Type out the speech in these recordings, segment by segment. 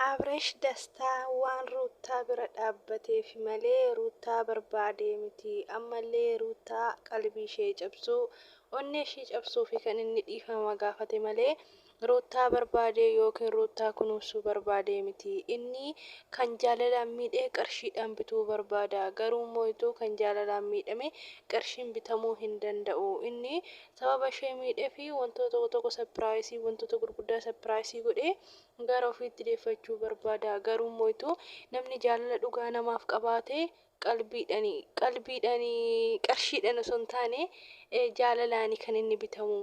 Abresh dastaa waan ruuttaa bira dhaabbateefi malee ruuttaa barbaadee miti ammallee ruuttaa qalbii ishee cabsuu onnee ishii cabsuufi kan inni dhiifama gaafate malee ruuttaa barbaadee yookiin ruuttaa kunuunsuu barbaadee miti inni kan jaalalaan miidhee qarshiidhaan bituu barbaada garuu immoo ituu kan jaalalaan miidhame qarshiin bitamuu hin danda'u inni sababa ishee miidhee fi wantoota tokko tokko sapiraayisii wantoota gurguddaa sapiraayisii godhee gara ofiitti deeffachuu barbaada garuu moo'itu namni jaalala dhugaa namaaf qabaatee qalbiidhani qalbiidhani qarshiidhan osoo hin taane jaalalaani kan inni bitamu.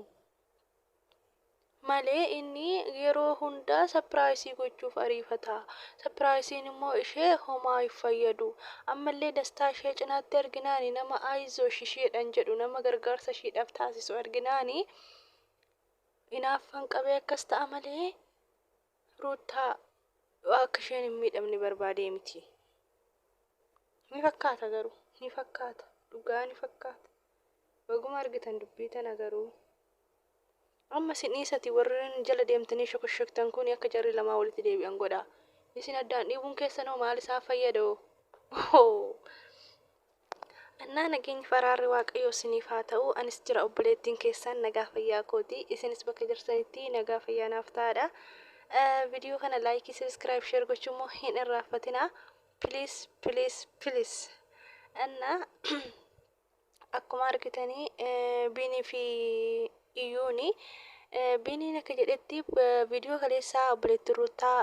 malee inni yeroo hundaa sapiraayisii gochuuf ariifata. Sapiraayisiin immoo ishee homaa hin fayyadu. Ammallee dastaa ishee cinaatti arginaani nama ayizosh isheedhan jedhu nama gargaarsa ishiidhaaf taasisu arginaani inaaffan qabee akkas ta'a malee ruuttaa akka isheen hin miidhamne barbaadee miti. Ni fakkaata garuu ni fakkaata dhugaa ni fakkaata. Baguma argitan dubbii tana garuu. Amma isin dhiisati warren jala deemtanii shokoshoktan kuuni akka jarri lamaan walitti deebi'an godhaa. Isin addaan dhiibuun keessan hoo maal isaan fayyada hoo? Ohoo! Annaa nageenyi fi araarri Waaqayyoo isiniif haa ta'u, anis jira obboleettiin keessan nagaa fayyaa kooti. Isinis bakka jirtanitti nagaa fayyaa naaf ta'aadha. Viidiyoo kana laayikii, sabiskiraayib, sheer gochuu immoo hin irraanfatinaa. Please, please, please. Annaa akkuma argitani biinii fi iyyuuni biiniin akka jedhetti viidiyoo kaleessaa obboleettiin ruuttaa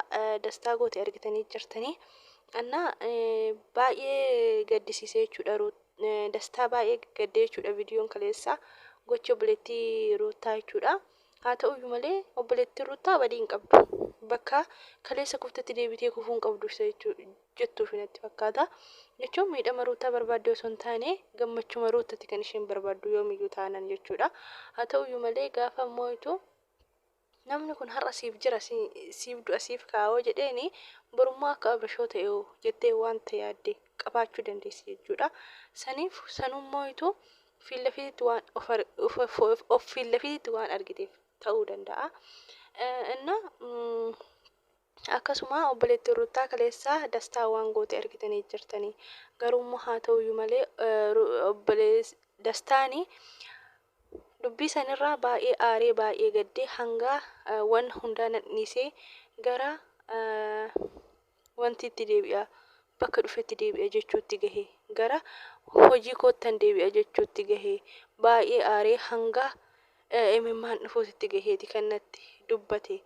dastaa goote argitanii jirtanii annaa baay'ee gaddisiisee jechuudha dastaa baay'ee gaddee jechuudha viidiyoon kaleessaa gocha obboleettii ruuttaa jechuudha Haa ta'u iyyuu malee obboleettiin Ruttaa badii hin qabdu. Bakka kaleessa kuftetti deebitee kufuu hin qabdu isa jettuufi natti fakkaata. Jechuun miidhama Ruttaa barbaaddee osoo hin taane gammachuma Ruttatti kan isheen barbaaddu yoomiyyuu taanan jechuudha. Haa ta'u iyyuu malee gaafa moo'itu namni kun har'a siif jira siif du'a siif kaa'oo jedheeni borummoo akka abrashoo ta'eoo jettee wanta yaadde qabaachuu dandeessi jechuudha. Saniif sanuun moo'itu Fiillafiititti waan of ar- of- of- of- of fiillafiititti waan argiteef ta'uu danda'a. Eh, Inna mm, akkasuma obboleettiin Ruttaa kaleessa dastaa waan goote argitanii jirtanii. Garuu immoo haa ta'uyyuu malee eh, Ru- obbolees dastaani dubbii sanirraa baay'ee aaree baay'ee gaddee hanga eh, waan hundaa nadhiisee gara eh, Wanti itti deebi'a, bakka dhufetti deebi'a jechuutti gahe. Gara hojii koottan deebi'a jechuutti gahe. Baay'ee aaree hanga imimmaan dhufuutitti gaheeti kan natti dubbate.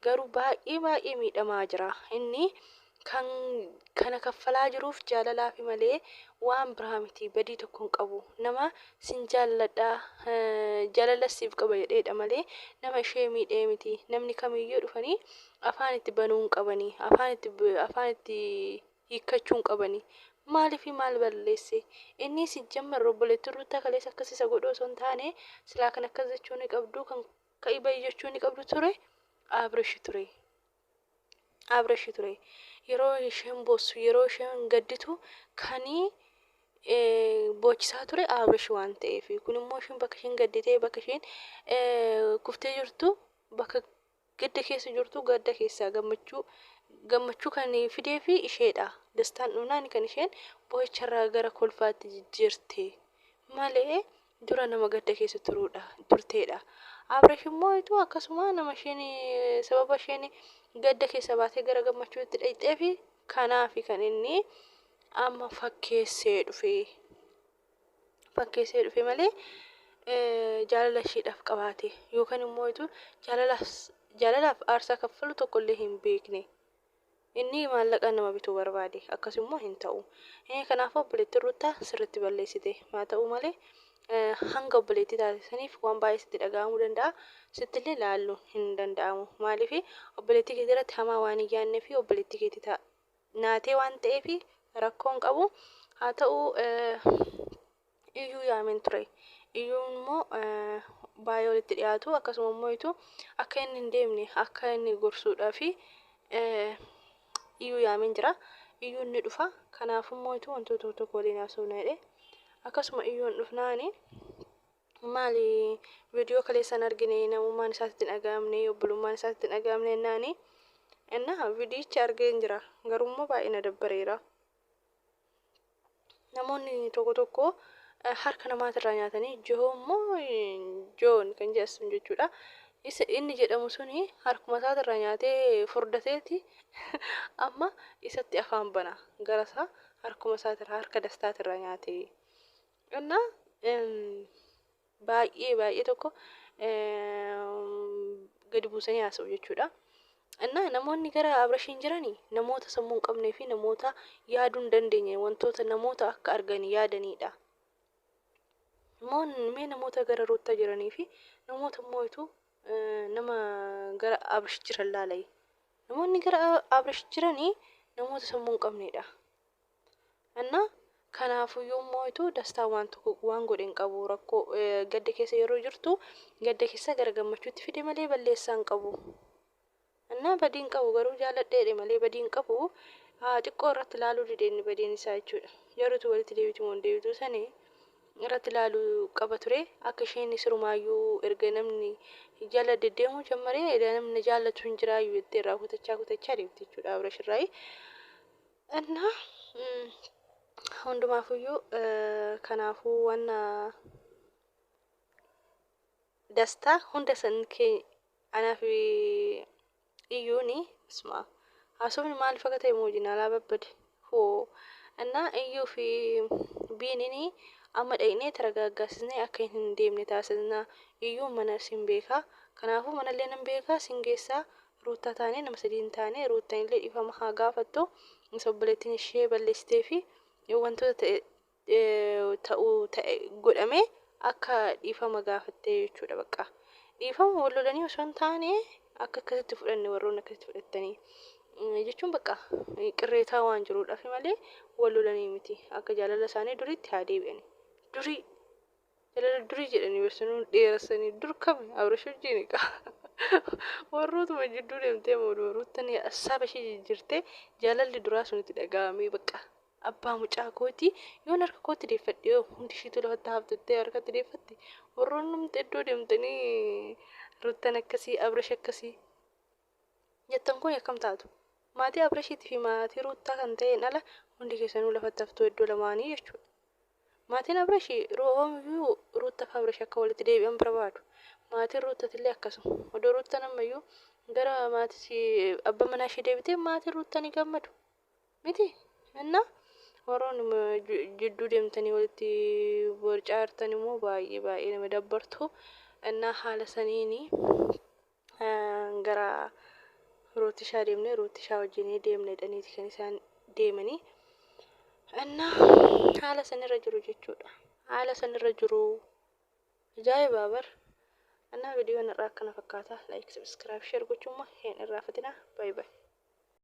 Garuu baay'ee baay'ee miidhamaa jira. Inni kan kana kaffalaa jiruuf jaalalaafi malee waan biraa miti. Badii tokko hin qabu. Nama sin jaalladha, jaalala siif qaba jedheedha malee nama ishee miidhee miti. Namni kamiyyuu dhufanii Afaan itti banuu hin qabani. Afaan itti afaan itti hiikkachuu hin qabani. Maalifi maal balleesse? Inni sijjammer obboleettiin Ruuttaa kaleessa akkas isa godhu osoo hin taane silaa kan akkas jechuu ni qabdu kan ka'i ba'i jechuu ni qabdu ture Abrish ture. Abrish ture. Yeroo isheen boossu yeroo isheen gadditu kanii boochisaa ture Abrish waan ta'eef kun immoo isheen bakka isheen gadditee bakka isheen kuftee jirtu bakka Gadda keessa jirtu gadda keessaa gammachuu gammachuu kan fideef isheedha. Dastaan dhumnaan kan isheen boo'icharraa gara kolfaatti jijjiirte malee dura nama gadda keessa turuudha turteedha. Abrash immoo ituu akkasuma nama isheen sababa isheen gadda keessa baatee gara gammachuutti dhaqxeef kanaafi kan inni amma fakkeessee dhufe. fakkeessee dhufe malee jaalala isheedhaaf qabaate yookaan immoo ituu jaalalaaf aarsaa kaffalu tokko illee hin beekne. Inni maallaqaan nama bituu barbaade akkas immoo hin ta'u. Kanaafuu obboleettiin Ruuttaa sirriitti balleessite haa ta'u malee hanga obboleettii taate saniif waan baay'ee sitti dhaga'amuu danda'a. Sitti illee laaluu hin danda'amu. Maaliif obboleettii keetii irratti hamaa waan hin yaadnee fi obboleettii keetii naatee waan ta'eef rakkoon qabu haa ta'u iyyuu yaamen ture iyyuu immoo baay'ee walitti dhiyaatu akkasuma immoo ituu akka inni hin deemne akka inni gorsuudhaa fi iyyuu yaamen jira iyyuu inni dhufa kanaaf immoo ituu wantoota tokko waliin haasofna jedhe akkasuma iyyuu hin dhufnaani Maali video kaleessa hin argine namummaan isaa sitti hin dhaga'amne obbolummaan isaa sitti hin dhaga'amne jennaani innaa vidiyicha argeen jira garuummoo baay'ee na dabbareera namoonni tokko tokko eh, harka namaatirraa nyaatanii johoo immoo eh, joon kan jedhan sun jechuudha isa inni jedhamu suni harkuma isaatirraa nyaatee furdateeti amma isatti afaan bana gara isaa harkuma isaatirraa harka dastaatirraa nyaatee እና baay'ee baay'ee tokko gadi buusanii haasa'u jechuudha. Innaa namoonni gara Abrashiin jiranii namoota sammuu hin qabnee fi namoota yaaduu hin dandeenye wantoota namoota akka argan yaadaniidha. Immoo mee namoota gara Ruuttaa jiranii fi namoota immoo ituu nama gara Abrash jiran laalai. Namoonni gara Abrash jiranii namoota sammuu hin qabneedha. Anna Kanaafuu yoon mooyitu dastaan waan tokko waan godhe hin qabu rakkoo gadda keessa yeroo jirtu gadda keessa gara gammachuutti fide malee balleessaa hin qabu. Anna badii hin qabu garuu jaaladheedhe malee badii hin qabu xiqqoo irratti ilaaluu dide inni badiin isaa jechuudha. Jaruutu walitti deebitu moo hin deebitu sani irratti ilaaluu qaba ture akka isheen sirumaayyuu erga namni jala deddeemuu jammaree namni na jaallatu hin jiraayyuu jettee irraa kutachaa kutachaa deemte jechuudha Abrash irraayi. እና hundumaafuyyuu kanaafuu wanna dastaa hunda san kee anaaf iyyuuni isma haasofni maaliif akka ta'e mooji naalaa babbade hoo innaa iyyuu fi biinini amma dhaqnee taragaaggaasisnee akka hin deemne taasisna iyyuu mana sin beekaa kanaafuu manallee nan beekaa sin geessaa Ruuttaa taanee nama sadii hin taane Ruuttan illee dhiifama haa gaafattu isa obboleettiin ishee balleessitee fi wantoota ta'e ta'u ta'e godhame akka dhiifama gaafattee jechuudha bakka dhiifama wal lolanii osoo hin taane akka akkasitti fudhanne warroonni akkasitti fudhattanii jechuun bakka qirreetaa waan jiruudhaaf malee wal lolanii miti akka jaalala isaanii duriitti haa deebi'anii durii Jalala durii jedhanii barsanuu dheerassanii dur kami abrash wajjiini qa warrootuma jidduu deemtee mooduma ruuttan assaaba ishee jijjirtee jaalalli duraa sun itti dhaga'amee bakka abbaa mucaa kooti yoon harka kootti deeffadhe yoo hundi ishiitu lafatti haaftettee harkatti deeffatte warroonnumti iddoo deemtanii ruuttan akkasii abrash akkasii jettan kun akkam taatu? Maatii Abrashiitii fi maatii Ruuttaa kan ta'een ala hundi keessanuu lafatti haftuu iddoo lamaanii jechuudha. Maatiin Abrashii Roomiyyuu Ruuttaa fi Abrash akka walitti deebi'an barbaadu. Maatiin Ruuttatillee akkasuma. Odoo Ruuttaan ammayyuu gara maatii abba manaa ishee deebitee maatiin Ruuttaa ni gammadu. Miti? Innaa warroonni jidduu deemtanii walitti borcaartan immoo baay'ee baay'ee nama dabbartu. Innaa haala saniini gara rootishaa deemne rootishaa wajjinii deemne jedhaniiti kan isaan deemanii annaa haala sanirra jiru jechuudha haala sanirra jiru ajaa'ibaa bar annaa vidiyoon irraa akkana fakkaata like subscribe share gochuumma hin irraa fatinaa bye bye